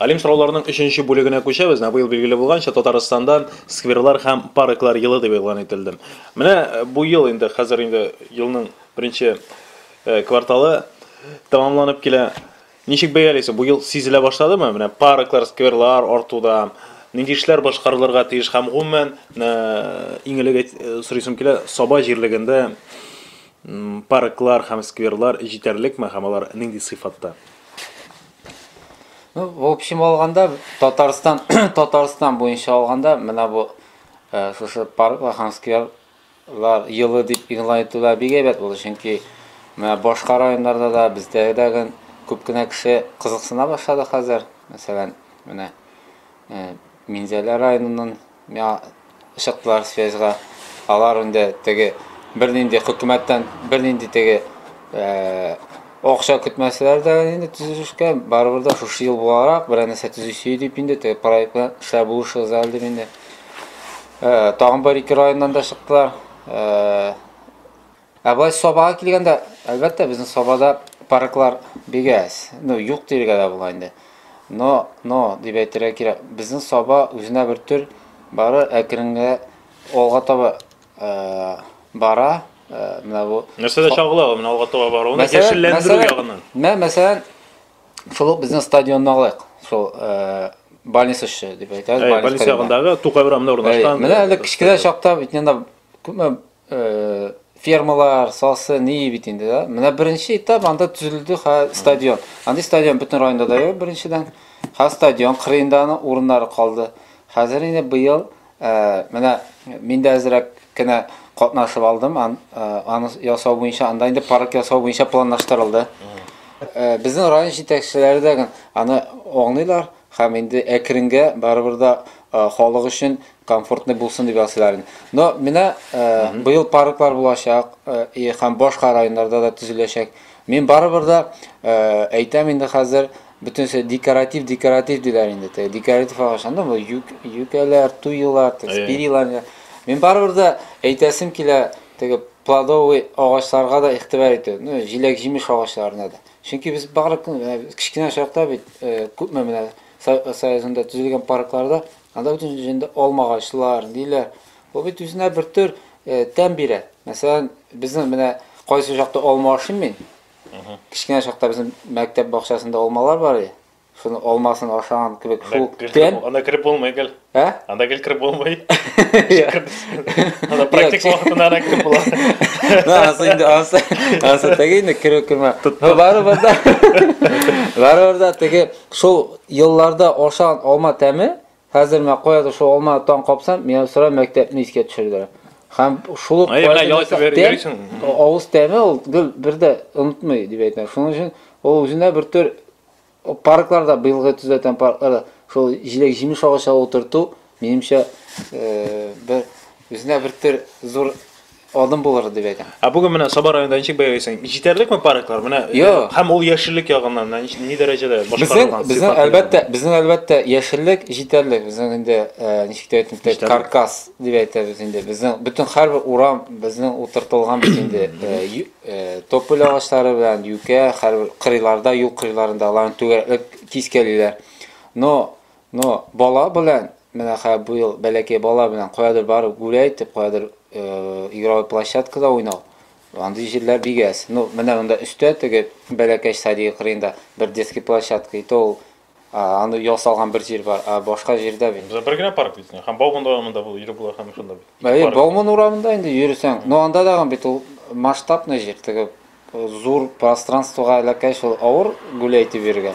Алим сорауларының өченче бүлегенә күчәбез. Менә быел билгеле булганча, Татарстанда скверлар һәм парклар елы дип игълан ителде. Менә бу ел инде, хәзер инде елның беренче кварталы тәмамланып килә. Ничек бәялисез, бу ел сизелә башладымы? Менә парклар, скверлар артуда нинди эшләр башкарылырга тиеш һәм гомумән иң элек сорыйсым килә, Саба җирлегендә парклар һәм скверлар җитәрлекме һәм алар нинди сыйфатта? Ну, в общем алганда Татарстан Татарстан буенча алганда менә бу э, шушы парк һәм скверлар елы дип игълан итүләр бик әйбәт булды, чөнки менә башка районнарда да бездәгедә гел күп кенә кеше кызыксына башлады хәзер. Мәсәлән, менә э, Минзәлә районыннан Миңа чыктылар связьга. Алар инде теге бернинди хөкүмәттән бернинди теге акча көтмәсәләр дә инде төзелешкә, барыбер дә шушы ел буларак берәр нәрсә төзисе дип инде теге проект белән эшләр булышыгыз әле дип инде. Тагын бер ике районнан да чыктылар. Ә былай сабага килгәндә, әлбәттә, безнең сабада парклар бик әз. Ну, юк диергә дә була инде. Но, но, дип әйтергә кирәк, безнең саба үзенә бер төр бары әкренге алга таба э, бара. Э, менә бу. Нәрсәдә чагыла ул менә алга таба бару? Аны яшелләндерү ягыннан. Мә, мәсәлән, шул ук безнең стадионны алыйк. Шул э, больница эше дип әйтәбез. Больница ягындагы Тукай урамында урнашкан. Менә әле кечкенә чакта бит инде күпме фермалар сасы не бит инде да менә беренче этап анда төзелде хәзер стадион андый стадион бөтен районда да юк беренчедән хәзер стадион кырыенда аның урыннары калды хәзер инде быел менә мин дә әзрәк кенә катнашып алдым аны ясау буенча анда инде парк ясау буенча планлаштырылды безнең район җитәкчеләре дә аны аңлыйлар һәм инде әкренгә барыбер да халык өчен комфортный булсын дип ясыйлар инде. Но менә э, быел парклар булачак э, и һәм башка районнарда да төзеләчәк. Мин барыбер дә э, әйтәм инде хәзер бөтенесе декоратив декоратив диләр инде. Теге декоратив агач анда бу юк юкәләр, туйлар, теге Әйе. спирилар. диләр. Мин барыбер дә әйтәсем килә теге плодовый агачларга да игътибар итү. Ну, җиләк-җимеш агачларына да. Чөнки без бары көн- э, кечкенә чакта бит э, күпме менә Со- союзында төзелгән паркларда Анда бөтен җенде алмагачлар, ниләр. Ул бит үзенә бер төр тәм бирә. Мәсәлән, безнең менә кайсы чакта алма ашыйм мин. Кечкенә чакта безнең мәктәп бакчасында алмалар бар иде. Шуны алмасын ашаган кебек шул тәм. Анда кереп булмый гел. Ә? Анда гел кереп булмый. Анда практик вакытында ана кереп була. Да, асы инде асы. Асы теге инде керү кермә. Барыбер да. Барыбер да теге Шул елларда ашаган алма тәме, хәзер менә каядыр шул алманы таң капсам, миңа сорай мәктәпне искә төшерде. Һәм шул ук Әйе, менә ял итеп йөрисең. Авыз тәме ул гел бер дә онытмый, дип әйтәм. Шуның өчен ул үзенә бер төр паркларда, быелгы төзеләтән паркларда шул җиләк-җимеш агачы утырту, Минемчә, бер үзенә бер төр зур адым булыр дип әйтәм. Ә бүген менә Саба районында ничек бәялисең? Җитәрлекме парклар? Менә э, һәм ул яшеллек ягыннан менә нич- ни дәрәҗәдә башкарылган? Безнең сыйфаты әлбәттә, безнең әлбәттә яшеллек җитәрлек. Безнең инде э, ничек тә әйтим, тә- каркас дип әйтәбез инде. Безнең бөтен һәрбер урам безнең утыртылган бит инде э, ю- э, тополь агачлары белән юкә, һәрбер кырыйларда, юл кырыйларында аларны түгәрәкләп тискәлиләр. Но Но бала белән, менә хә бу ел бәләкәй бала белән каядыр барып гүлә итеп, каядыр игровой площадкада уйнау, андый җирләр бик әз. Ну, менә монда өстә теге бәләкәч садигы кырыенда бер детский площадка, и то ул аны ясалган бер җир бар, а башка җирдә бит. Бездә бер генә парк бит, һәм Бауман урамында бу ире була һәм шунда бит. Әйе, Бауман урамында инде йөрсәң, но анда дагын бит ул масштабный җир, теге Зур пространствога әләкәй шул авыр гүләй итеп йөрергә.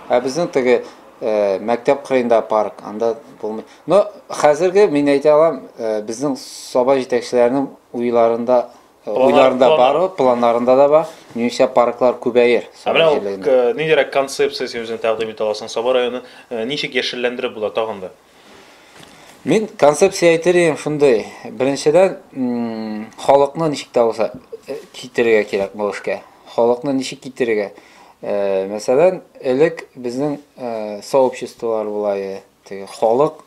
Ә безнең теге э, мәктәп кырыенда парк, анда булмый. Но хәзерге мин әйтә алам, э, безнең саба җитәкчеләренең уйларында э, Планнар- уйларында планнар. бар, ул, планнарында да бар. Минемчә парклар күбәер. Ә саба менә ул җирлегендә. к- ниндирәк концепция син үзең тәкъдим итә аласың? Саба районын э, ничек яшелләндереп була тагын да? Мин концепция әйтер идем шундый. Беренчедән, халыкны ничек тә булса э, китерергә кирәк бу эшкә. Халыкны ничек китерергә? Э, мәсәлән, элек безнең э, сообществолар була иде. Теге халык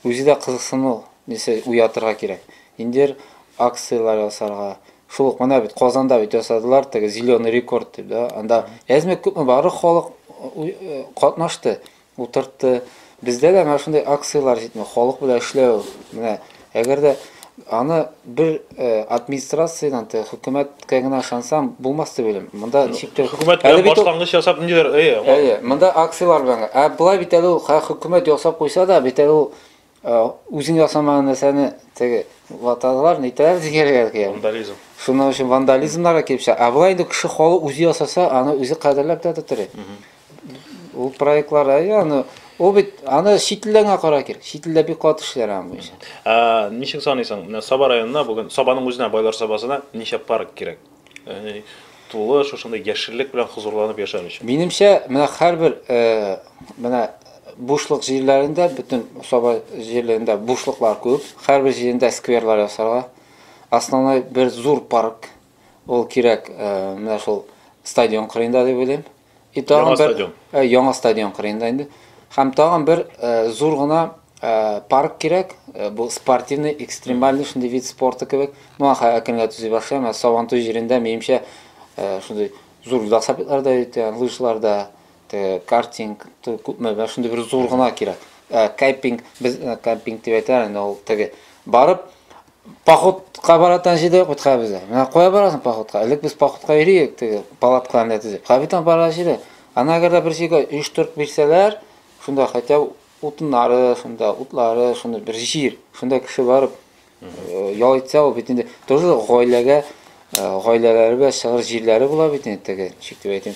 үзе дә кызыксыну нәрсә уятырга кирәк. Индер акцияләр ясарга. Шул ук менә бит Казанда бит ясадылар теге зеленый рекорд дип, да. Анда әзме күпме бары халык катнашты. утыртты. Бездә дә менә шундый акцияләр җитми, халык белән эшләү. Менә әгәр дә аны бер э, администрациядән, те, хөкүмәткә генә ышансам, булмас дип уйлыйм. Монда ну, ничек тә Хөкүмәт белән башлангыч ясап ниндидер, әйе. Әйе, монда акцияләр белән. Ә болай бит әле ул хөкүмәт ясап куйса да, бит әле ул Үзең ясамаган нәрсәне теге ваталар, нитәләр дигәләр икән. Вандализм. Шуның өчен вандализмнар да килеп чыга. Ә болай инде кеше халык үзе ясаса, аны үзе кадерләп тә тотыры. Ул проектлар, әйе, аны ул бит аны чит илдән генә кара кир. Чит илдә бик каты эшләр аның буенча. Ә ничек саныйсың, менә Саба районына бүген, Сабаның үзенә, Байлар Сабасына ничә парк кирәк? Яни тулы шушындый яшеллек белән хозурланып яшәр өчен. Минемчә, менә һәрбер э, менә бушлык җирләрендә, бөтен Саба җирлегендә бушлыклар күп. Һәрбер җирендә скверлар ясарга. Основной бер зур парк. Ул кирәк э, менә шул стадион кырыенда дип уйлыйм. И тагын бер стадион. Э, яңа стадион кырыенда инде. Һәм тагын бер э, зур гына э, парк кирәк. Бу спортивный, экстремальный шундый вид спорты кебек. Ну, аха әкренләп төзи башлый, әмма Сабантуй җирендә минемчә шундый зур велосипедлар да итә, лыжлар да, картинг, күпме, шундый бер зур гына кирәк. Кемпинг, без кемпинг дип әйтәләр, инде ул теге барып Походка бара торган җирдә юк хәбизләр. Менә кая барасың походка? Элек без походка йөриек, теге палатка анда төзеп. Хәбитан бара җире. Ана әгәр дә бер җиргә оештырып бирсәләр, шунда хәтта утыннары, шунда утлары, шунда бер җир, шунда кеше барып э, ял итсә, ул бит инде тоже гаиләгә, э, гаиләләргә чыгыр җирләре була бит инде теге, ничек дип әйтим,